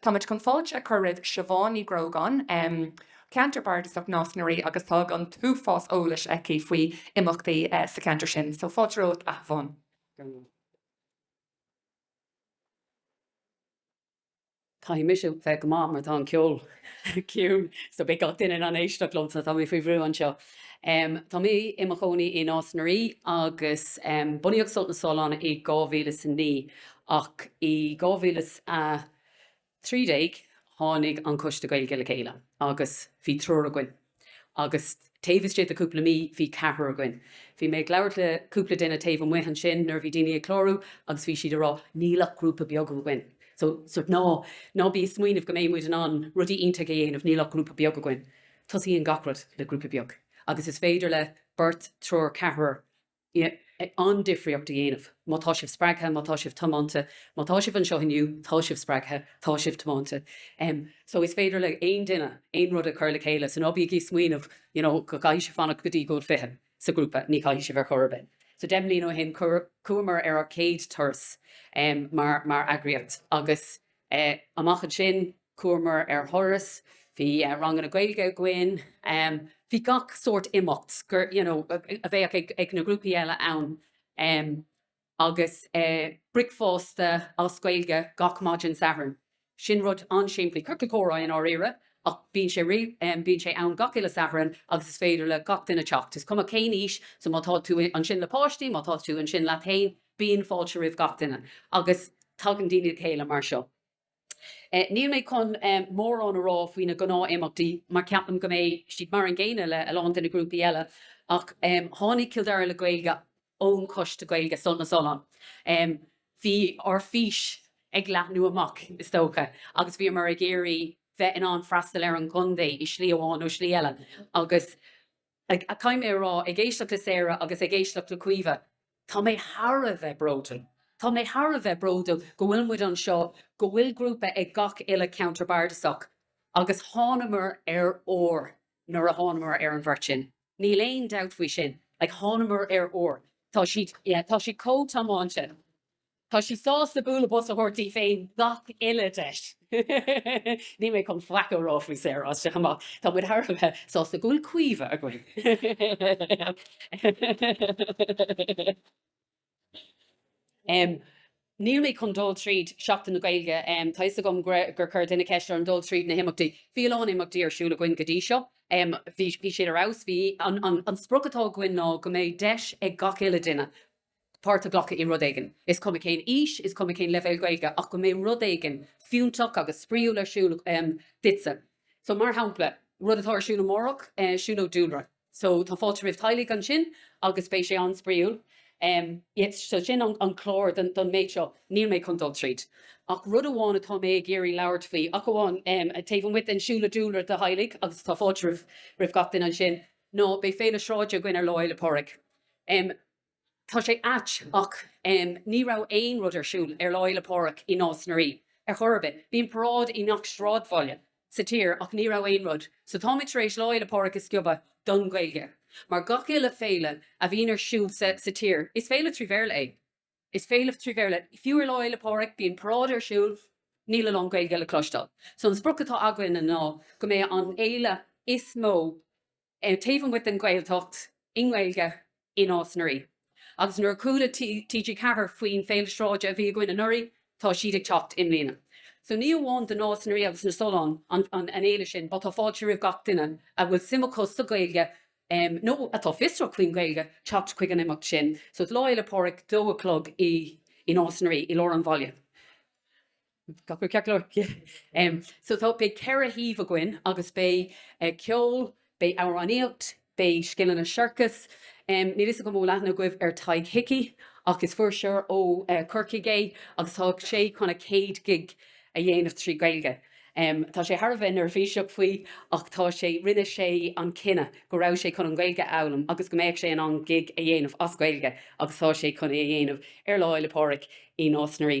Táimid chun fáilte a chur roimh Siobhán Ní Ghrógáin, em. Ceantar Bardasach Nás na Rí agus tá an t-uafás eolais aici faoi imeachtaí sa cheantar sin. So fáilte romhat a Shiobhán. Caithfidh mise bheith go maith mar tá an ceol ciúin so beidh gach duine in ann éisteacht liom so tá mé faoi bhrú anseo. Em. Tá mé i mo chónaí i Nás na Rí agus em. bunaíodh Sult na Sollán i 2009 Ach i 2013 tháinig an Coiste Gaeilge le chéile agus bhí triúr againn agus taobh istigh de chúpla mí bhí ceathrar againn. Bhí mé ag labhairt le cúpla duine taobh amuigh ansin nuair a bhí daoine ag clárú agus bhí siad ag rá níl ach grúpa beag againn. So, sórt ná, ná bí ag smaoineamh go mbeidh muid in ann rudaí iontacha a dhéanamh, níl ach grúpa beag againn. Tosaíonn gach rud le grúpa beag agus is féidir le beirt, triúr, ceathrar an-difríocht a dhéanamh. Má tá sibh spreagtha, má tá sibh tiomanta, má tá sibh anseo inniu, tá sibh spreagtha, tá sibh tiomanta. So is féidir le haon duine aon rud a chur le chéile. So ná bígí ag smaoineamh you know go gcaithfidh sibh fanacht go dtí go bhfuil fiche sa ghrúpa, ní chaithfidh sibh ar chor ar bith. So deich mbliana ó shin chuamar ar ár chéad turas mar eagraíocht agus Amach as sin, chuamar ar thuras, bhí ranganna Gaeilge againn, bhí gach sórt imeacht gur, you know, a bheadh ag na grúpaí eile ann, agus bricfeasta as Gaeilge gach maidin Sathairn. Sin rud an-simplí, ciorcal comhrá i ndáiríre, ach bíonn sé, bíonn sé ann gach uile Shatharn agus is féidir le gach duine teacht, is cuma cén aois, so má tá tú ansin le páistí, má tá tú ansin leat fhéin, Bíonn fáilte roimh gach duine agus tagann daoine le chéile mar seo. Níl mé chun mórán a rá faoi na gnáth-imeachtaí mar ceapaim go mbeidh siad mar an gcéanna le a lán de na grúpaí eile ach tháinig Cill Dara le Gaeilge ón Choiste Gaeilge Sult na Sollán. Bhí ár bhfís ag leathnú amach is dócha agus bhíomar ag iarraidh bheith in ann freastal ar an gcontae i slí amháin nó slí eile agus Ag, caithfidh mé a rá, ag éisteacht le Sarah agus ag éisteacht le Caoimhe, tá mé thar a bheith bródúil. Tá mé thar a bheith bródúil go bhfuil muid anseo, go bhfuil grúpa ag gach uile cheantar bardasach agus thánamar ar ór nuair a thánamar ar an bheirt sin. Níl aon dabht faoi sin. Like, thánamar ar ór. Tá siad, yeah, tá siad chomh tiomáinte. Tá sí sásta bualadh bos a thabhairt di féin gach uile dheis. Níl mé chun faic a rá faoi Sarah as seo amach, tá muid thar a bheith sásta go bhfuil Caoimhe againn! Níl mé chun dul tríd Seachtain na Gaeilge, tá 'fhios agam gur chuir duine ceist orm dul tríd na himeachtaí. Bhí a lán imeachtaí ar siúl againn go dtí seo, bhí siad ar fheabhas, bhí, an sprioc atá againn ná go mbeidh deis ag gach uile duine, páirt a ghlacadh i rud éigin, is cuma cén aois, is cuma cén leibhéal Gaeilge, ach go mbeidh rud éigin fiúntach agus spraíúil ar siúl duitse. So, mar shampla, rud atá ar siúl amárach, siúlóid dúlra. So, tá fáilte roimh theaghlaigh ansin agus beidh sé an-spraíúil. So, sin an clár don méid seo. Níl mé chun dul tríd ach rud amháin atá mé ag iarraidh labhairt faoi, ach amháin, taobh amuigh den siúlóid dúlra do theaghlaigh, agus tá fáilte roimh gach duine ansin, ná beidh féile sráide againn ar Lá Fhéile Pádraig. Tá sé ait, ach ní raibh aon rud ar siúl ar Lá Fhéile Pádraig i Nás na Rí ar chor ar bith. Bíonn paráid i ngach sráidbhaile sa tír ach ní raibh aon rud, so táimid tar éis Lá Fhéile Pádraig a sciobadh don Ghaeilge. Mar gach uile féile a bhíonn ar siúl sa tír, is féile trí Bhéarla é. Is féile trí Bhéarla, fiú ar Lá Fhéile Pádraig, bíonn paráid ar siúl, níl a lán Gaeilge le cloisteáil. So an sprioc atá againne ná go mbeidh an fhéile is mó, taobh amuigh den Ghaeltacht, i nGaeilge, i Nás na Rí. Agus nuair a chuala TG4 faoin Féile Sráide a bhí againn anuraidh, tá siad ag teacht i mbliana. So ní amháin do Nás na Rí agus na Solláin an fhéile sin, but tá fáilte roimh gach duine a bhfuil suim acu sa Ghaeilge nó atá fiosrach faoin Ghaeilge teacht chuig an imeacht sin. So Lá Fhéile Pádraig, dó a chlog, i Nás na Rí, i lár an bhaile. So tá, beidh ceithre shuíomh againn agus beidh ceol, beidh amhránaíocht, beidh scileanna siorcais. Níl a fhios agam an bhfuil aithne agaibh ar Tadhg Hickey ach is fuirseoir ó Chorcaigh é agus tá sé chun a chéad ghig a dhéanamh trí Ghaeilge. Tá sé thar a bheith neirbhíseach faoi ach tá sé, rinne sé an cinneadh go raibh sé chun an Ghaeilge a fhoghlaim agus go mbeadh sé in ann gig a dhéanamh as Gaeilge agus tá sé chun é a dhéanamh ar Lá Fhéile Pádraig i Nás na Rí.